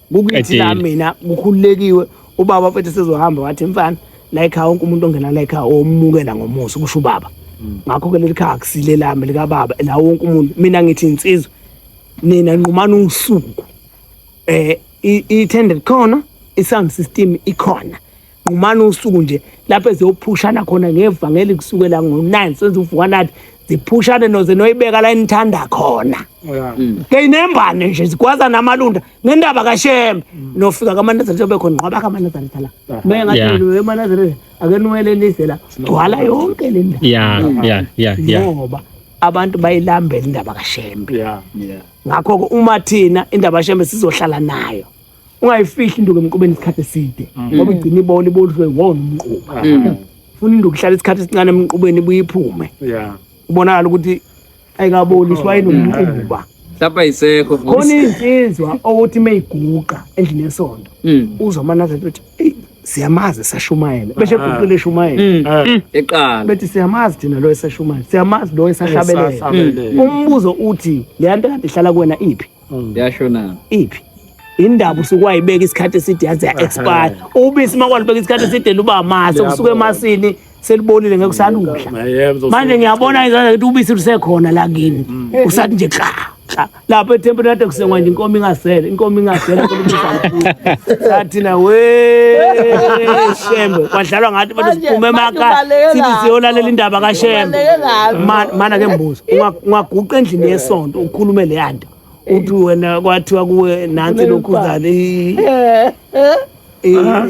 kukithi la mina kukhululekiwe ubaba mfethu sezohamba wathi mfana la ekhaya wonke umuntu ongena la ekhaya omukela ngomusa kusho ubaba mm. ngakho-ke leli khaya akusile lami likababa la wonke umuntu mina ngithi insizwa nina nqumana usuku um eh, i-tended khona i-sound system ikhona nqumana usuku nje lapho eziyophushana khona ngevangeli kusukela ngo-9 senze uvuka nathi ziphushane noze noyibeka la enithanda khona keyinembane nje zigwaza namalunda ngendaba kashembe nofika kamanazare njengoba khona nqwaba kamanazare thala meye Yeah. ngathi "Wena wemanazare ake niwelelise la gcwala yonke le ndawo ya ya ya ya ngoba abantu bayilambela indaba kashembe Yeah. ngakho-ke uma thina indaba kashembe sizohlala nayo ungayifihli induku emqubeni isikhathi eside mm. ngoba igcina ibona ibodlwe wona umquba mm. funa induku ihlala isikhathi esincane emqubeni ibuye iphume ubonakala ukuthi ayikaboliswa yini umquba lapha yisekho khona insizwa owothi uma iguqa endlini yesonto mm. uzwa amanazela ukuthi eyi siyamazi esashumayela beshe ah. guqile eshumayela mm. ah. mm. eqala bethi siyamazi thina lo esashumayela siyamazi lo esahlabelela umbuzo uthi le nto kade ihlala kuwena iphi Mm. yasho na iphi indaba usuke wayibeka isikhathi eside yaze ya-expire ubisi uma kwalibeka isikhathi eside luba amasi kusuke emasini selibonile ngeke usaludla manje ngiyabona izandla ukuthi ubisi lusekhona la kini mm. usathi nje xa xa lapho ethempelini kade kusengwa nje inkomo ingasele inkomo ingasele sathina we shembe kwadlalwa ngathi bathi siphume emakhaya sithi siyolalela indaba kashembe mana ke mbuzo ungaguqa endlini yesonto ukhulume leya nto uthi wena kwathiwa kuwe nansi lokhuzana i- Eh, eh. i- Aha.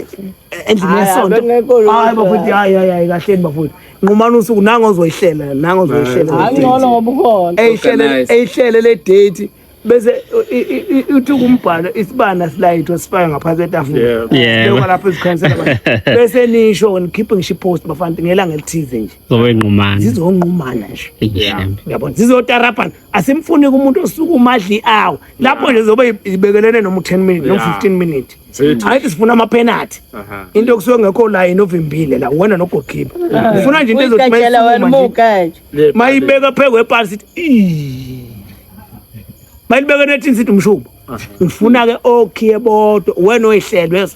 endlini Hayi, yesonto abengekho lutho. hayi bafuthi hayi hayi hayi kahleni bafuthi nqumani usuku nango ozoyihlela nango ozoyihlela Hayi, le date. ngcono ngoba ukhona eyihlele Organize. eyihlele le date bese i- i- i- uthi kumbhalo isibana silayithwa sifake ngaphansi etafula Yeah. Yebo. Lokho lapho ezikhansela abantu. bese nisho nikhiphe ngisho ipost bafana ngelanga elithize nje zowengqumana zizongqumana nje yabona zizotarabhana asimfuni kumuntu osuke umadli awo lapho nje zobe ibekelene noma u-10 minute noma 15 minute hayi sifuna amapenalty into okusuke ngekho line ovimbile la wena nogokipa ufuna nje into ezothi mayibeka phezu kwepali sithi mayilibekene ethini sithi umshubo ngifuna ke okhiye bodwa wena oyihlelwe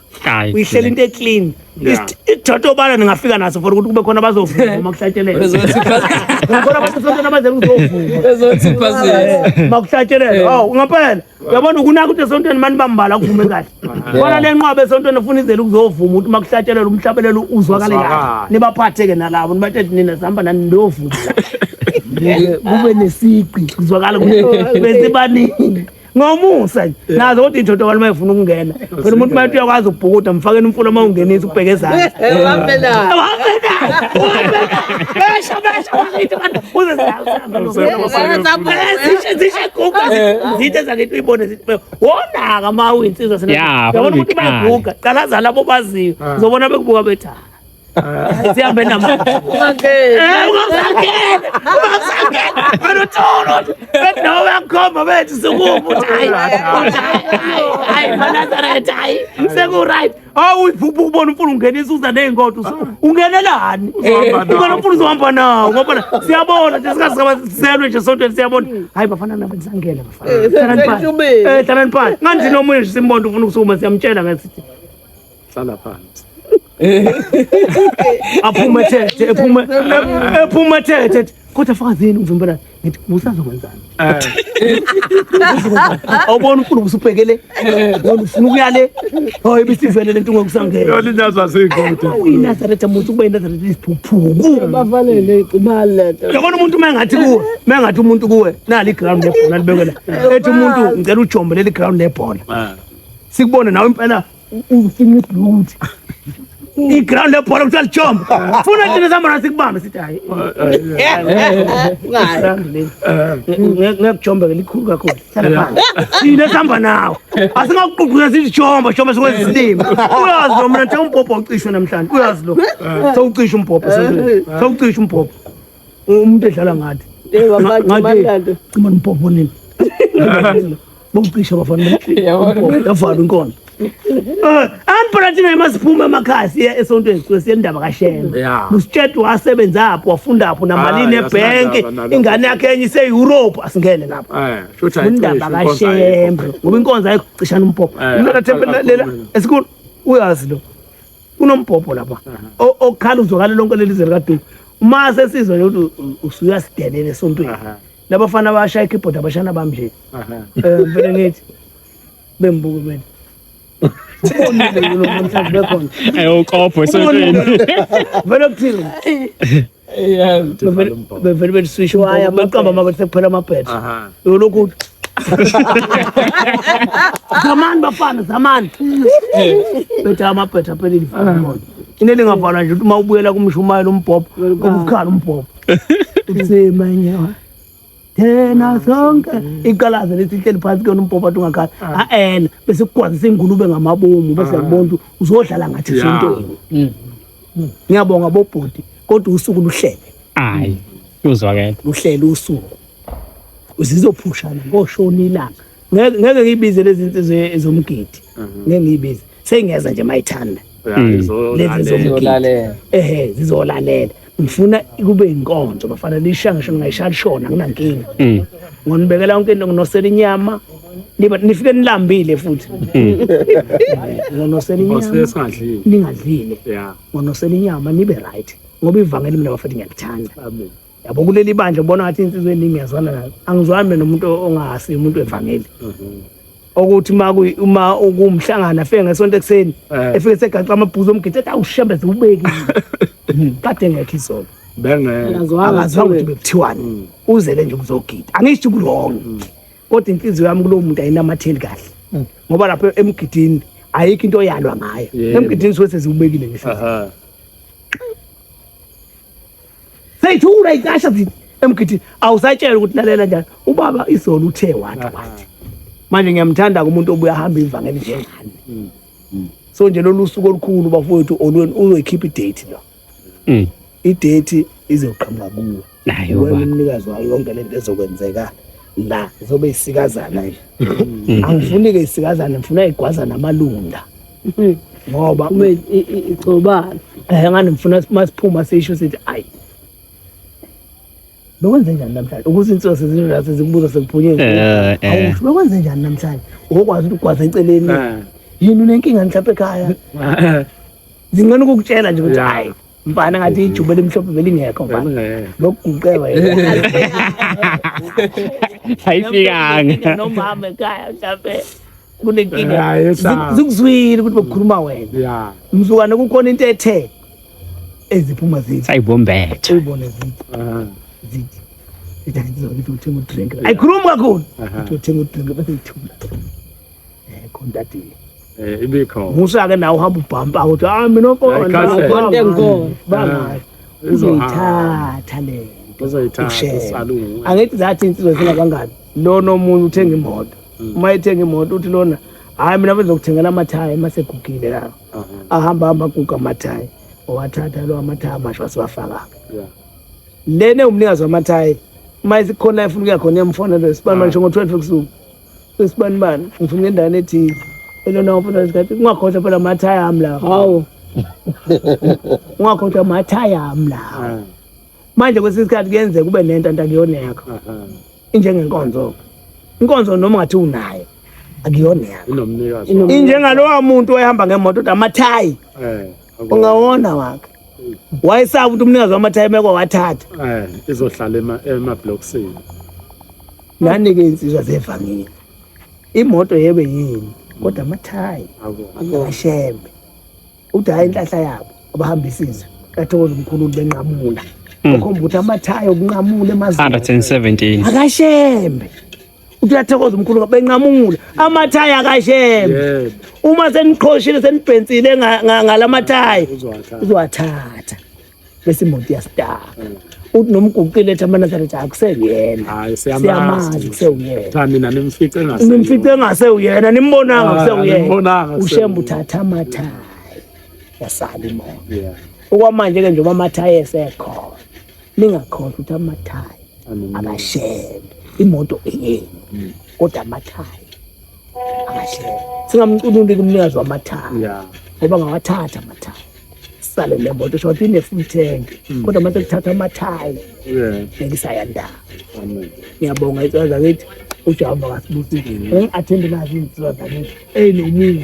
uyihlela into eclean isithatha obala ningafika naso for ukuthi kube khona bazovuma uma kuhlatshelelwakhona abasesontweni abaze kuzovuma kuhlatshelelwa awu ngampela uyabona ukunaka ukuthi esontweni mani bambala kuvume kahle khona le nqwaba esontweni efuna izele ukuzovuma ukuthi uma kuhlatshelelwa umhlabelelo uzwakale kahle nibaphathe-ke nalabo nibathethe nina zihamba nani ndovuma kube nesiqi kuzwakala ukuthi besibaningi ngomusa nje eh. nazo kodwa indoda kwalo mayifuna ukungena phela umuntu mathi uyakwazi ukubhukuda mfakeni umfula uma ungenisa ubheke ezantsi zithe zakithi uyibone zithi wonaka ma uyinsizwa siyabona ukuthi bayaguga qala zala bobaziyo ah. uzobona bekubuka bethaa Sihambe namanje. Nowakhomba bethu sikubu hayi. Hayi manazaretha hayi. Seku right. Awu uyiphupha ukubona umfulu ungenisa uza nezinkodo. Ungenelani? Ubona umfulu uzohamba nawo ngoba siyabona nje sikasiselwe nje sontweni siyabona. Hayi bafana nabo kusangena bafana. Eh, hlalani phansi. Hlalani phansi. Nganje nomunye nje simbona ufuna ukusukuma siyamtshela ngathi. hlala phansi aphume thethe ephume ephume thethe kodwa fakazini uvimbela ngithi usazokwenzani awubona ufuna ukusubhekele wona ufuna ukuya le hayi ibisivele lento ngokusangena yona inazwa seyingoda uyinazaretha muthi ukuba inazaretha isiphuphuku bavalele imali lento yabona umuntu uma engathi kuwe uma engathi umuntu kuwe nali ground lebhola libekela ethi umuntu ngicela ujombe leli ground lebhola sikubone nawe impela Ufuna ibhuti. iground lebhola kuthiwa lijombo funa thina samona sikubambe sithi hayi ngekujomba ke likhulu kakhulu thina sihamba nawo asingakuququza sithi jomba jomba sikwenza isilima uyazi lo mna nje umbhobho ucishwe namhlanje uyazi lo sewucisha umbhobho sewucisha umbhobho umuntu edlala ngathi Eh wabantu ngathi mandado. cima nompopo nini bokucisha bafana Yabona. yavala inkona amphakathi naye masiphume emakhaya siye esontweni sisuke siye endaba kashembe Yeah. nositshedi wasebenzapho wafundapho namalini Ah, ebhenki asinandaba nalokho. ingane yakhe enye ise-europe asingene lapho Eh, sho ukuthi ayikho undaba isho, inkonzo kashembe ayikho. ngoba inkonzo ayikho cishana umpopo Eh, Mina nathembe akakho lena mina. esikhulu uyazi lo kunombhobho lapha okukhala uzwakala lonke leli zwe likaduku uma sesizwa nje ukuthi usuyasidelela esontweni labafana abashaya ikeyboard abashana bami nje um vele ngithi bembuke mina ayokopho esontweni vele kuthini Yeah, Uthi bevele- vala umbhobo. bevele beliswisha Waya, umbhobo, beqamba amabele sekuphela amabhetha Aha. yolokhu uthi, zamani bafana zamani bethe amabhetha aphelile ifamoto into elingavalwa nje ukuthi uma ubuyela kumshumayela umbhobho ubukhala umbhobho uthi manyawa yena sonke iqalaze lethi lihleli phansi kuyona umpopha athi ungakhala ah. a-ena bese kukwazisa ingulube ngamabomu bese ah. yakubona ukuthi uzodlala ngathi sintoni mm. mm. ngiyabonga bobhuti kodwa usuku luhlele hayi uzwakele luhlele usuku zizophushana ngoshona ilanga ngeke ngiyibize lezi nsizwe ezomgidi mhm. ngeke ngiyibize seyingeza nje mayithanda lezi zomgidi ehe zizolalela ngifuna kube inkonzo bafana lisha ngisho ngingayishaya lishona nginankinga mm. ngonibekela yonke into nginosela inyama nifike nilambile futhi mm. ngonosela inyama ningadlile ngonosela inyama nibe right ngoba ivangeli mina bafethu ngiyalithanda yabo kuleli bandla ubona ngathi insizwe eningi ngiyazwana nayo angizwani nomuntu ongahasi umuntu evangeli mhm. okuthi uma uma ukumhlangana afike ngesonto ekuseni eh. efike segaxa amabhuzu omgidi ethi awushembeze ubekile hmm, kade ngekho isonto bengekazwanga ukuthi bekuthiwani hmm. uzele nje ukuzogida angisho ukulong hmm. kodwa inhliziyo yami kulowo muntu ayinamatheli kahle ngoba lapho emgidini ayikho into oyalwa ngayo emgidini suke seziwubekile ngisho seyithula ikasha zithi emgidini awusatshelwa ukuthi lalela njani ubaba izolo uthe wathi wathi manje ngiyamthanda kumuntu obuya hamba ivangeli njengani mm. mm. so nje lolu suku olukhulu bafowethu olweni uzoyikhipha idate lo mm. idate izoqhamuka kuwe nayo umnikazi wayo yonke lento ezokwenzeka la zobe isikazana nje mm. angifuni ke isikazana ngifuna igwaza namalunda mm. ngoba uma igcobana eh ngani ngifuna masiphuma sisho sithi ayi bekwenze njani namhlanje ukuthi insosi zinjase zikubuza sekuphunyeni eh, eh. awusho bekwenze njani namhlanje ukwazi ukugwaza eceleni eh. yini unenkinga mhlawumbe ekhaya zingcono ukukutshela nje ukuthi hayi mfana ngathi ijuba elimhlophe belingekho mfana lokuguqeba ayifikanga nomama ekhaya mhlampe kunenkinga zikuzwile ukuthi bokukhuluma wena mzukwane kukhona into ethe eziphuma zithi sayibombetha uyibone zithi zithi zithi ngizokuthenga udrink ayikhulumi kakhulu uthenga udrink bese ithula eh kontatile eh ibikho musa ke nawe uhamba ubhampa uthi ah mina ukhona ukhona ngikho bangayo uzoyithatha le uzoyithatha angithi zathi insizwa zina kangani lona omunye uthenga imoto mm. uma ethenga imoto uthi lona hayi mina bezokuthengela amathaya uma segugile lawo ahamba hamba aguga amathaya owathatha lo amathaya amasha wasiwafaka lena umnikazi wamathayi uma isikhona efuna ukuya khona emfonele sibani manje ngo-twelve ebusuku Sesibanibani ngifuna ngendane ethile. Elona ufuna isikhathi ungakhohlwa phela amathaya ami la. Hawu. Ungakhohlwa amathaya ami la. Ah. Manje kwesinye isikhathi kuyenzeka kube nento antakuyoneka. Injengenkonzo. Inkonzo noma ungathi unayo akuyona yakho. Inomnikazi. Injengalowa muntu oyehamba ngemoto amathaya. Eh. Ungawona wakhe. wayesaba ukuthi umnikazi wamathayimeko wathatha eh izohlala ema ema blocksini nani ke insizwa zevangile imoto yebe yini kodwa amathayi akashembe uthi hayi inhlahla yabo abahamba isizwe kathokoza umkhulu benqamula okhomba ukuthi amathayi okunqamula emazweni 117 akashembe uthi uyathokoza umkhulu benqamule amathayi akashembe uma seniqhoshile senibhensile ngalamathayi uzowathatha bese imoto iyasitaka mm. uthi noma uguqile ethi amanazaretha akuseyena siyamazi kusewuyena nimfice engasewuyena nimbonanga kusewuyena ushembe uthatha amathayi yasala imoto okwamanje-ke njengoba amathayi esekhona ningakhohlwa ukuthi amathayi akashebe imoto eyenu mm. kodwa amathayi akashebe singamcunuleli umnikazi wamathayi ngoba ngawathatha amathayi sale le moto sho ukuthi ine-full tank mm. kodwa mase kuthatha amathayi nengisayandaba ngiyabonga icela zakithi ujehova kasibusile mm. engi-athende nazi izinsiba zakithi eyi nomunye